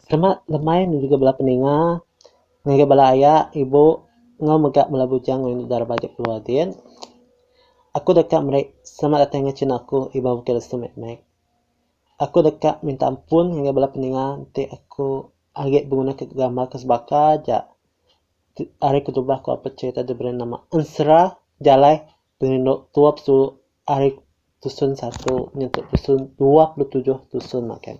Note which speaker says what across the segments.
Speaker 1: Selamat lemai ngegiga bala peninga, ngegiga bala aya, ibu enggau mega bala bujang rindu dara baju keluar din. Aku deka meri selamat datai enggau chin aku iban bukih restu mek mek. Aku deka minta ampun ngagai bala peninga enti aku agi beguna ke gambar ke sebaka aja ari kedubah aku apai cherita diberi nama Ensera Jalai Pengelindok tuap tu ari tusun satu nyentuk tusun dua puluh tujuh tusun makai.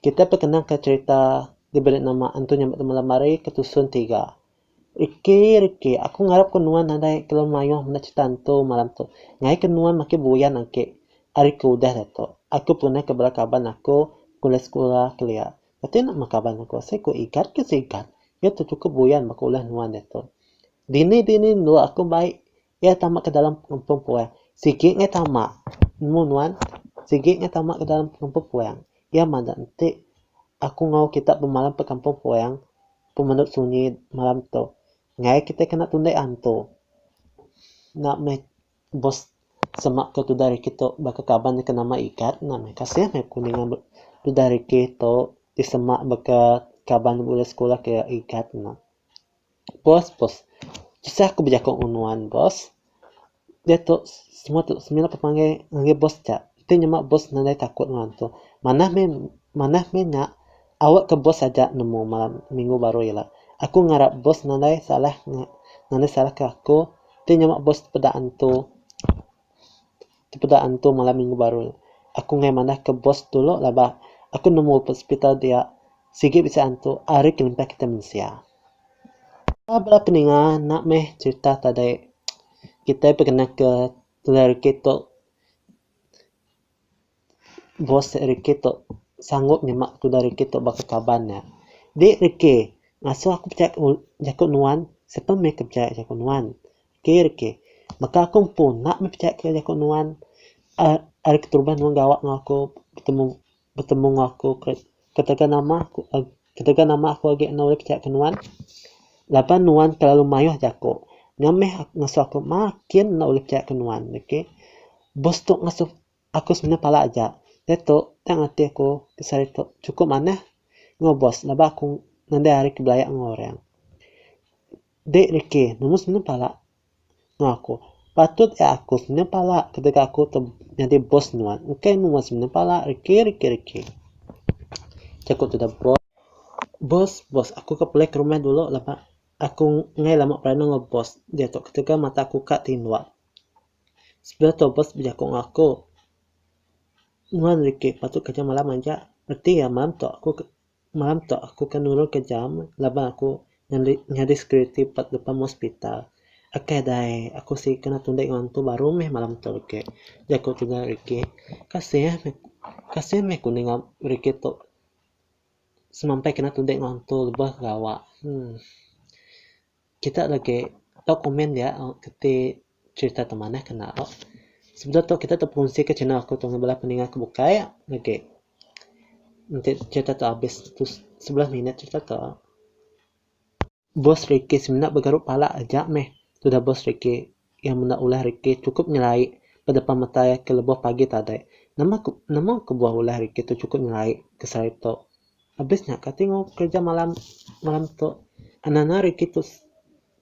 Speaker 1: Kita peh kenang ka cherita diberi nama Antu Nyambat Temu Lamari ke tusun tiga. Riki riki aku ngarap ko nuan nadai kelalu maioh menda cherita antu malam tu. Ngai ke nuan makin buyan agi ari ke udah diatu. Aku pernah ke bala kaban aku ke sekula kelia. Enti enda mekaban aku seiku igat ke seigat, iya tu cukup buyan baka ulah nuan diatu. Dini-dini endur aku mai iya tama ke dalam pengumpung puang. Sigi ngai tama, nemu nuan, sigi ngai tama ke dalam pengumpung puang. Iya mada enti aku enggau kita bemalam ba kampung puang, pemenu sunyi malam tu. Ngai kitai kena tundai antu. Enda meh. Bos semak ke tudah rikih tu baka kaban nya ke nama Ikat nah meh kasih meh aku ninga tudah rikih tu disemak baka kaban bulan sekulah ke Ikat nah. Bos bos tusah aku bejaku ngan nuan bos. Diatu semua tu semina ku panggil ngagai bos ja. Ti nyema bos nadai takut nuan tu. Manah meh manah meh nya awe ke bos aja nemu malam minggu baru ila. Aku ngarap bos nadai salah nadai salah ke aku. Ti nyama bos tepeda antu tepeda antu malam minggu baru. Aku nggai manah ke bos dulu lah ba aku nemu ba hospital dia sigi bisi antu ari kelimpah kita mensia. Ba bala peninga enda meh cerita tadi kitai pekena ke teliriki tu Bos nya riki tu sanggup nyema tudah riki tu baka kaban nya. Di riki ngasuh aku pechaya jaku nuan sebab meh aku pechaya jaku nuan. Ti riki baka aku empu enda meh pechaya jaku nuan. Ari keterubah nuan gawa enggau aku betemu betemu enggau aku. Ketegal nama ketegal nama aku agi enda ulih pechaya ke nuan laban nuan telalu maioh jaku ngamih ngasuh aku makin enda ulih pechaya ke nuan okay boss tu ngasuh aku semina pala aja diatu tang ati aku sehari tu cukup manah enggau boss laban aku ngandai hari ke belaya enggau orang dek rikey nemu semina pala. Enggau aku. Patut iya aku semina pala ketegal aku tu nyadi bos nuan. Engkai mu meh semina pala riki riki riki. Jaku tudah bos. Bos bos aku ke pelik rumah dulu laban aku enggai lama beranak enggau bos. Diatu ketegal mata aku ka tinduk. Sebedau tu bos bejaku enggau aku. Nuan riki patut kerja malam aja reti iya malam tu aku ke. Malam tu aku ke nurun ke jam laban aku nyadi nyadi security ba depan hospital. Akai da ai, aku sigi kena tundek ngan antu baru meh malam tu agi, jaku tuda Ricky. Kasih meh kasih meh ku ninga Ricky tu semampai kena tundek ngan antu lebih gawa. Huh. Kita legi tau komen dia keti cerita ti manah kena tu. Sebedau tu kita terperunsika channel aku tu ngan bala peninga ke bukai legi. Enti cerita tu abis sebelas minit cerita tu. Boss Ricky semina begaru pala aja meh tudah boss Ricky. Iya menda ulah rikih chukup nyelai ba depan mata iya ke lebuh pagi tadai. Nama ke nama kebuah ulah rikih tu chukup nyelai ke sehari tu. Abis nya kati enggau kerja malam malam tu. Anang-anang rikih tu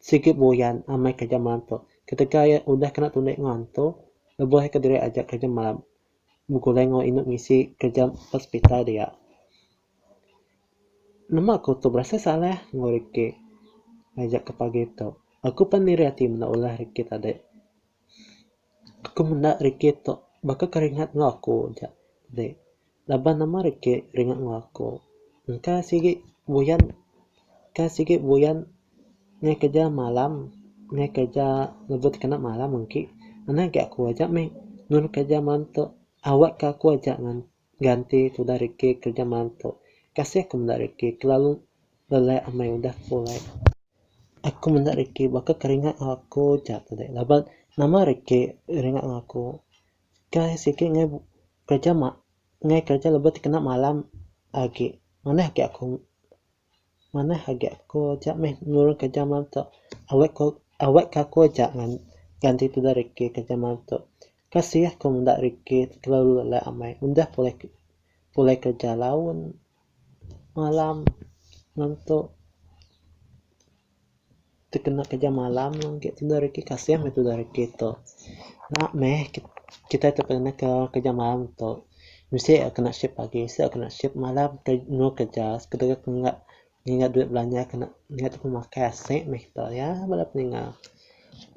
Speaker 1: sigi buyan amai kerja malam tu. Ketegal iya udah kena tulik enggau antu, lebuh iya kediri aja kerja malam begulai enggau indu misi kerja ba sepital dia. Nama aku tu berasa salah enggau Ricky ngaja aku pagi tu. Aku pan iri ati menda ulah Ricky tadi. Aku menda Ricky tu baka keringat enggau aku aja tadi. Laban nama Ricky ringat enggau aku. Engka sigi buyan, engka sigi buyan ngaih kerja malam, ngaih kerja ngerebut kena malam engki. Ngena agi aku aja mih nulung kerja malam tu. Awakka aku aja ngan. Ganti tudah rikit kerja mantu. Kasih ku menda rikit kelalu lelai amai udah ku ulai. Aku menda rikit baka keringat aku ja tu deh laban nama rikit ringat ngan aku kai sikit ngai kerja ngai kerja lebih ti kena malam agi manah agi aku. manah agi aku aja meh nulung kerja malam tu awak ku awak ka aku aja ganti tudah rikit kerja malam tu kasih aku menda rikit kelalu alai amai udah pulai pulai kerja laun malam ngantuk. tekena kerja malam agi tudah reti kasih meh tudah reti tu. Nya meh kitai tu pernah ke kerja malam tu mesti agi kena shift pagi mesti agi kena shift malam tunggu kerja dep mega nginga duit belanja kena ngingat dep makai aseng meh kita ya bala peninggal.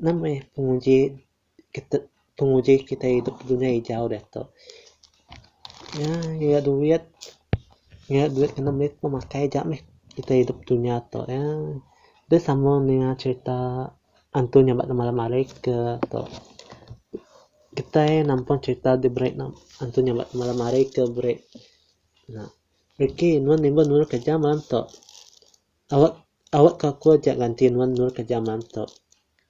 Speaker 1: Nya meh penguji. penguji kitai idup dunya ijau diatu nya nyurat duit nyurat duit ngena mit pun makai aja mih kitai idup dunya tu ya deh sama ninga cerita antu nya ba malam hari ke tu kitai nampun cerita diberi antu nya ba malam hari ke beri reti nuan imba nulung kerja malam tu Awak awak ka aku aja ganti nuan endur ka jaman tu.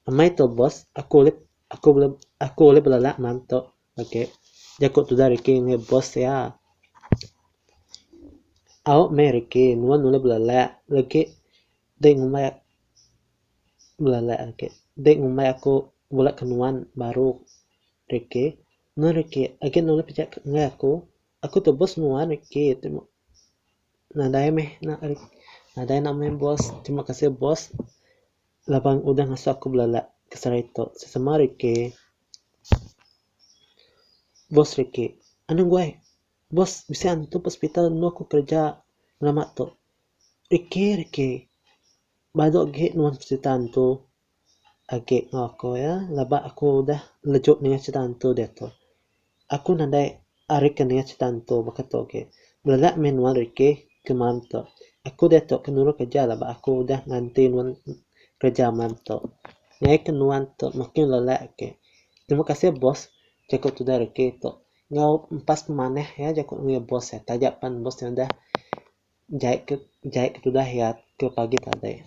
Speaker 1: Amai tu boss aku ulih aku ulih aku ulih belelak man tu agi jaku tudah riki ngagai boss iya. Awak meh riki nuan ulih belelak riki deh ngumbai belelak agi deh ngumbai aku bula ke nuan baru riki meh riki agi nuan ulih pejak ngagai aku aku tu boss nuan riki. Nadai meh nak ari nadai nak meh boss. Terima kasih boss laban laban udah ngasuh aku belala ke sehari tu. Sesama rikei. Boss rikei. Anu guai boss bisi antu ke hospital enu aku kerja lama tu. Rikei rikei badu agi nuan cerita antu. agi enggau aku iya laba aku udah lejuk ninga cerita hantu diatu. Aku nadai ari ke ninga cerita hantu baka tu agi. Bela mih nuan riki ke malam tu. Aku diatu ke nulung kerja laba aku udah nganti nuan kerja malam tu. Nyai ke nuan tu makin lelek agi. Terima kasih boss jaku tudah riki tu. Enggau empas pemanah iya jaku ngagai boss iya taja pan boss iya udah. Jai ke jai ke tudah iya ke pagi tadi.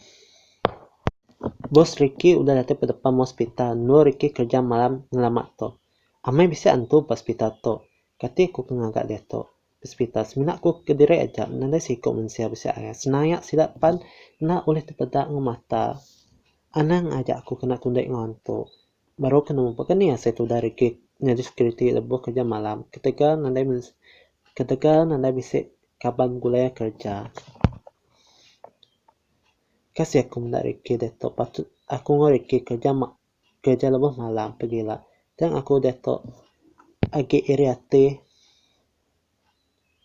Speaker 1: Bos Ricky udah datai ba depan meh hospital endur Ricky kerja malam ngelama tu. Amai bisi antu ba hospital tu. Kati aku ke ngaga diatu. Ba hospital semina aku ke diri aja nadai siku mensia bisi arai. Senaya sida pan enda ulih tepeda enggau mata. Anang aja aku kena kundi enggau antu. Baru ke nemu baka ni asil tudah rigit nyadi security lebuh kerja malam ketegal nadai ketegal nadai bisi kaban begulai kerja. Ka asil aku menda rikih diatu patut aku enggau rikih kerja ma kerja lebuh malam pegila tang aku diatu agi iri ati.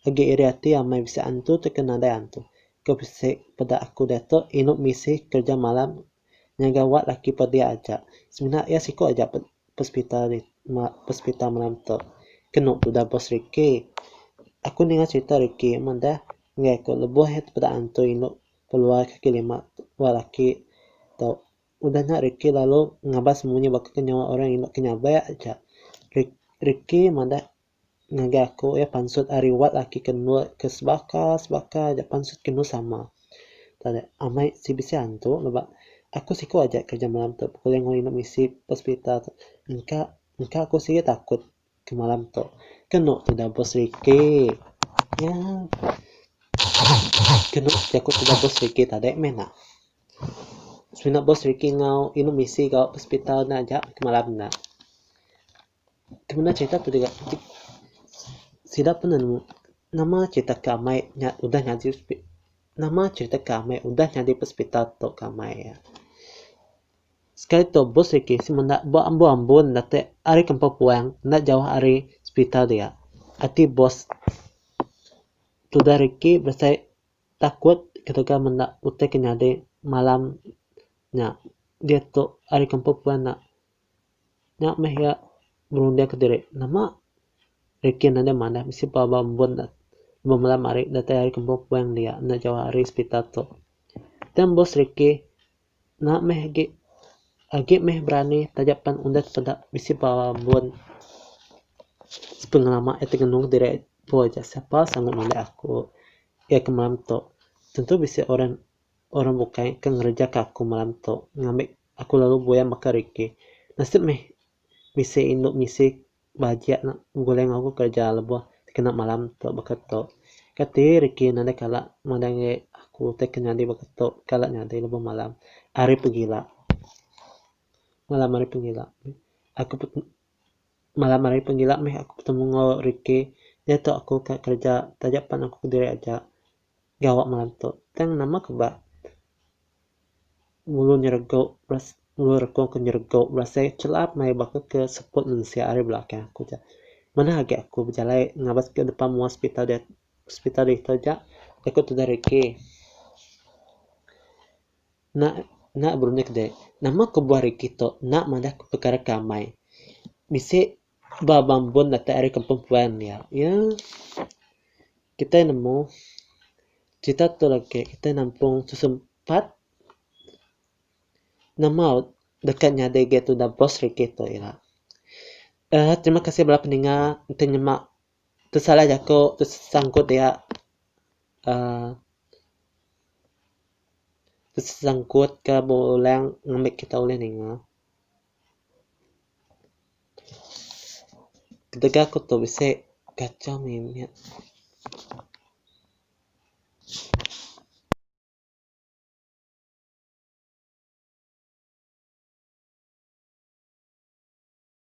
Speaker 1: Agi iri ati amai bisi antu tu ke nadai antu. Ke bisi peda aku diatu inu misi kerja malam nyaga wak laki pedi aja. Semina iya siku aja pe pesepital ri ma pesepital malam tu. Kenu tudah bos Ricky. Aku ninga cerita Ricky amat dah enggai aku lebuh iya tu peda antu inu peluar kaki lima wak laki tu. Udah nya Ricky lalu ngabas munyi baka ke nyawa orang inu ke nyabai aja. Ri Ricky madah Ngagai aku iya pansut ari wat aki ke endur ke sebaka sebaka aja pansut kenu sama. Tadi amai si bisi antu leba aku siku aja kerja malam tu pukul lima inu misi ba sepitar tu engka engka aku sigi takut ke malam tu kenu tudah bos riki nya kenu aku tudah bos riki tadi meh nya. Semina bos riki enggau inu misi gau ba sepitar nya aja malam nya. Kemina cerita tu digaga ti sida pernah nemu nama cerita ke amai nya udah nyadi nama cerita ke amai udah nyadi hospital tok ke amai iya. Sekali tu bos reti seh menda ba ambo ambo nda te ari kampung puang nda jauh ari hospital dia. Ati bos tudah reti besai takut ketegal ke menda utai ke nyadi malam nya diatu ari kampung puan nya. Nya meh iya ngerunding aku diri, nama rikih enda manah bisi pelaba ambun ne meh malam hari datai ari kembuh puing dia enda jauh ari hospital tu. Tang bos rikih nya meh agi agi meh berani taja pan undet peda bisi pelaba ambun pengelama iya tengenung aku diri tu aja sapa sangu nulih aku iya ke malam tu tentu bisi orang orang bukai ke ngereja ka aku malam tu ngambi Aku lalu buaya maka riki. Nasib meh bisi indu misi bahagia nya begulai enggau aku kereja lebuh dikena malam tu baka tu. Kati riki nadai kala madai aku utai ke nyadi baka tu kala nyadi lebuh malam ari pegila. Malam ari pegila aku pet malam ari pegila meh aku betemu enggau riki diatu aku ka kereja taja pan aku kediri aja. Gawa ngelantuk tang nama ke ba ngulu nyerego ngulu reko ke nyerego berasai chelap maya baka ke seput mensia ari belakang aku ja. Manah agi aku bejalai ngabas ke depan mua hospital dia hospital diatu ja deka tudah regi. Nya nya burung nya kede nama kebuah regi tu enda madah perkara ke amai. Bisi ba bambun datai ari kampung puan dia. Ye. Kitai nemu, cerita tu legi kitai nampung sesempat nama deka nyadi ga tudah bos regi tu ira. Uhh terima kasih bala peninga enti nyema pesalah jaku sangkut dia uhh sangkut ke bulang ngambika kita ulih ninga. Ketegal ku tu bisi kacang mimit.